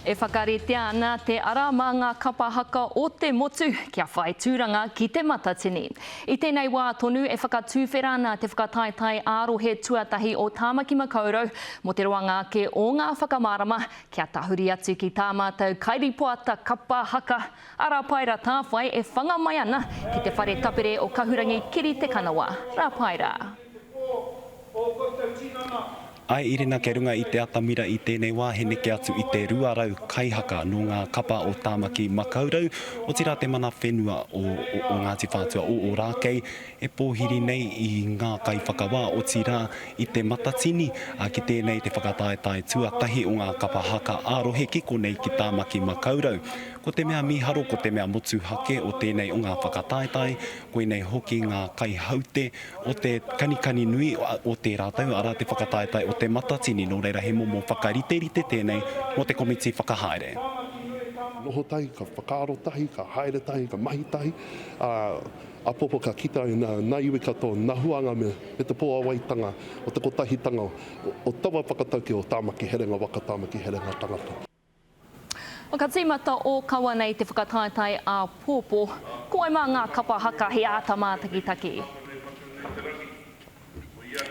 E whakaritea ana te ara mā ngā kapa haka o te motu kia whai tūranga ki Te Matatini. I tēnei wā tonu e whakatuwhera ana te whakataetae ā-rohe tuatahi o Tāmaki Makaurau mō te roanga ake o ngā whakamārama kia tahuri atu ki tā mātou kairipoata kapa haka a Rāpaira Tāwhai e whanga mai ana ki te whare tapere o Kahurangi Kiri Te Kanawa, Rāpaira. te pō ō koutou tinana. I Irina kia runga i te atamira i tēnei wā he neke atu i te 200 kaihaka nō ngā kapa o Tāmaki Makaurau, otirā te mana whenua o o Ngāti Whātua o Ōrākei e pōhiri nei i ngā kaiwhakawā, otirā i Te Matatini, ā, ki tēnei te whakataetae tuatahi o ngā kapa haka ā-rohe ki konei ki Tāmaki Makaurau. Ko te mea mīharo ko te mea motuhake o tēnei o ngā whakataetae Koinei hoki ngā kaihaute o te kanikani nui o te rātou, arā, te whakataetae o Te Matatini, nō reira he momo whakariterite tēnei mō te komiti whakahaere. Noho tahi, ka whakaaro tahi, ka haere tahi, ka mahi tahi, ā, apopo ka kita ai nā iwi katoa, nā huānga me te pōawaitanga o te kotahitanga o taua whakatauki o Tāmaki Herenga Waka, Tāmaki Herenga Tangata. Ka tīmata ōkawa nei te whakataetae āpōpō. Ko wai mā ngā kapa haka he āta mātakitaki?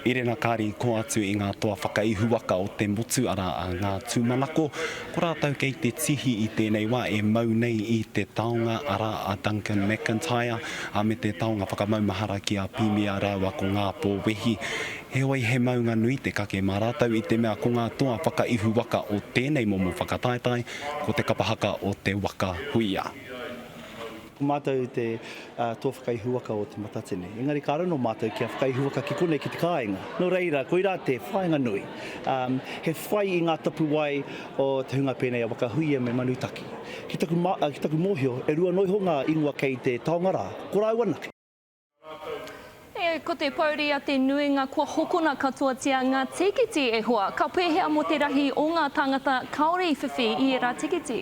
Erena Kari i kō atu i ngā toa whakaihuwaka o te motu arā a Ngā Tūmanako. Ko rātou kei te tihi i tēnei wā e mau nei i te taonga arā a Duncan McIntyre me te taonga whakamaumahara ki a Pimia rāua ko Ngā Pōwehi. Heoi he maunga nui te kake mā rātou i te mea ko ngā toa whakaihu waka o tēnei momo whakataetae ko te kapa haka o te waka huia. Ko mātou te toa whakaihu waka o Te Matatini, engari ka raro mātou kia whakaihu waka ki konei ki te kāinga. Nō reira, koirā te whāinga nui. He whai i ngā tapuwae o te hunga pēnei a Waka Huia me Manutaki. Ki taku mōhio, e rua noa iho ngā ingoa kei te taonga rā, ko rāua anake. E, ko te pouri a te nuinga kua hokona katoatia nga tikiti e hoa. Ka pehea mo te rahi o nga tangata kaore i whiwhi i era tikiti?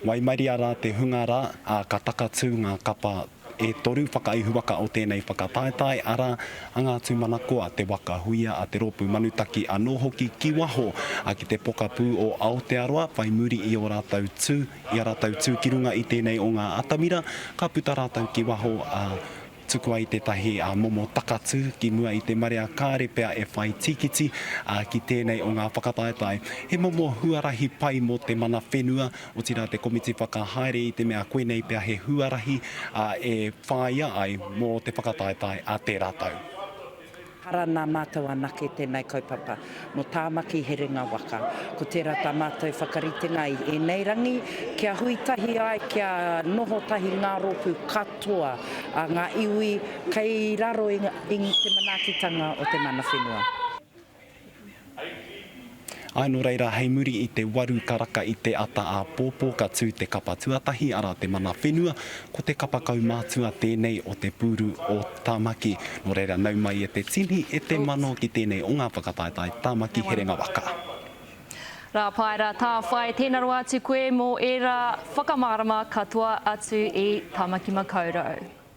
Waimaria rā te hunga rā, ā, ka takatū ngā kapa e toru whakaihuwaka o tēnei whakataetae, arā, a Ngā Tūmanakoa, Te Waka Huia, a Te Rōpū Manutaki anō hoki ki waho, ā, ki te pokapū o Aotearoa, whai muri i ō rātou tū, I a rātou tū ki runga i tēnei o ngā atamira, ka puta rātou ki waho, ā, tuku ai tētahi momo takatū ki mua i te marea kāre pea e whai tīkiti, ā, ki tēnei o ngā whakataetae. He momo huarahi pai mō te mana whenua, otirā te komiti whakahaere i te mea koinei pea he huarahi, ā, e whāia ai mō te whakataetae a tērā tau. Ara nā mātou anake tēnei kaupapa mō Tāmaki Herenga Waka. Ko tērā tā mātou whakaritenga i ēnei rangi, kia hui tahi ai, kia noho tahi ngā rōpū katoa a ngā iwi kei raro i te manaakitanga o te mana whenua. Āe nō reira, hei muri i te waru karaka i te ata āpōpō ka tū te kapa tuatahi, arā te mana whenua, ko te kapa kaumātua tēnei o te pūru o Tāmaki. Nō reira, nau mai e te tini, e te mano ki tēnei o ngā whakataetae Tāmaki herenga waka. Rā pai, rā tāwhai, tēnā rawa atu koe mō ērā whakamārama katoa atu i Tāmaki Makaurau.